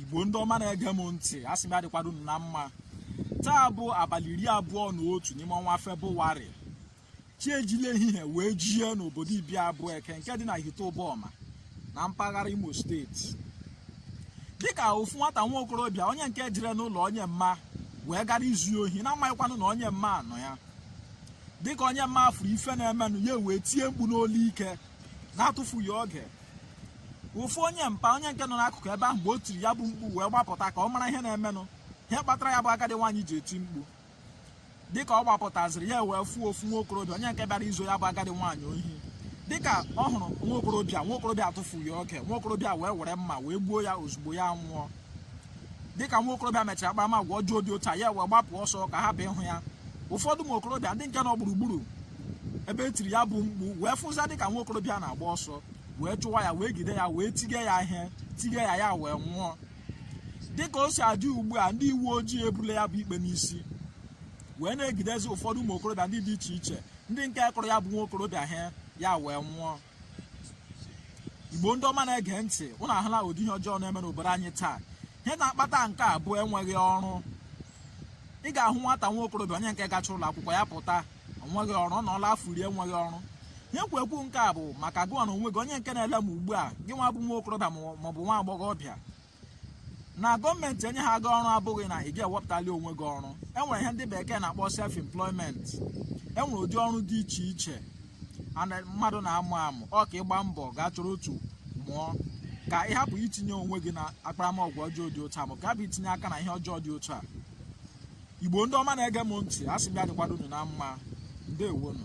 igbo ndị ọma na-ege m ntị a sị m ya dịkwado unu na mma taa bụ abalị iri abụọ na otu n'ime ọnwa febụwarị chi ejile ehihie wee jie n'obodo ibi abueke nke dị na ihite ụbọma na mpaghara imo steeti dịka ofu nwata nwa okorobịa onye nke jere n'ụlọ onye mma wee gara izu ohi na-amaghịkwanụ na onye mma a nọ ya dịka onye mma a fụrụ ife na-emenụ ya wee tie mkpu n'olu ike na-atụfughị oge ofu onye mpa onye nke nọ n'akụkụ ebe ahụ mgbe o tiri ya bụ mkpu wee gbapụta ka ọ mara ihe na-emenụ ihe kpatara ya bụ agadi nwaanyị ji eti mkpu dịka ọ gbapụtaziri ya wee fụọ ofu nwa okorobịa onye nke bịara izo ya bụ agadi nwaanyị ohi dịka ọ hụrụ nwa okorobịa nwa okorobịa atụfughị oge nwa okorobịa wee were mma wee gbuo ya ozugbo ya nwụọ dịka nwa okorobịa mechara akparamagwa ọjọọ dị otu a ya wee gbapụ ọsọ ka hapụ ịhụ ya ụfọdụ ụmụ okorobịa ndị nke nọ gburugburu ebe e tiri ya bụ mkpu wee fụza dịka nwa okorobịa na-agba ọsọ wee chụwa ya wee gide ya wee tige ya ihe tige ya ya wee nwụọ dịka o si adị ugbu a ndị uwe ojii ebule ya bụ ikpe n'isi wee na-egidezi ụfọdụ ụmụ okorobịa ndị dị iche iche ndị nke kụrụ ya bụ nwa okorobịa ihe ya wee nwụọ igbo ndị ọma na-ege ntị unu ahụla ụdị ihe ọjọọ na-eme n'obodo anyị taa ihe na-akpata nke a bụ enweghị ọrụ ị ga-ahụ nwata nwa okorobịa onye nke gacha ụlọ akwụkwọ ya pụta onweghị ọrụ ọ nọọla afọ iri enweghị ọrụ ihe kwu ekwu nke a bụ maka gụwa na onwe gị onye nke na-ele m ugbu a gị nwa bụ nwa okorobịa maọbụ nwa agbọghọbịa na gọọmenti enyeha gị ọrụ abụghị na ị ga-ewepụtali onwe gị ọrụ enwere ihe ndị bekee na-akpọ self employment enwere ụdị ọrụ dị iche iche mmadụ na-amụ amụ ọ ka ị gbaa mbọ gaa chọrọ otu mụọ ka ị hapụ itinye onwe gị na akparamagwa ọjọọ dị otu a ma ka hapụ itinye aka na ihe ọjọọ dị otu a igbo ndị ọma na-ege m ntị a sị m ya dịkwado unu na mma ndewonu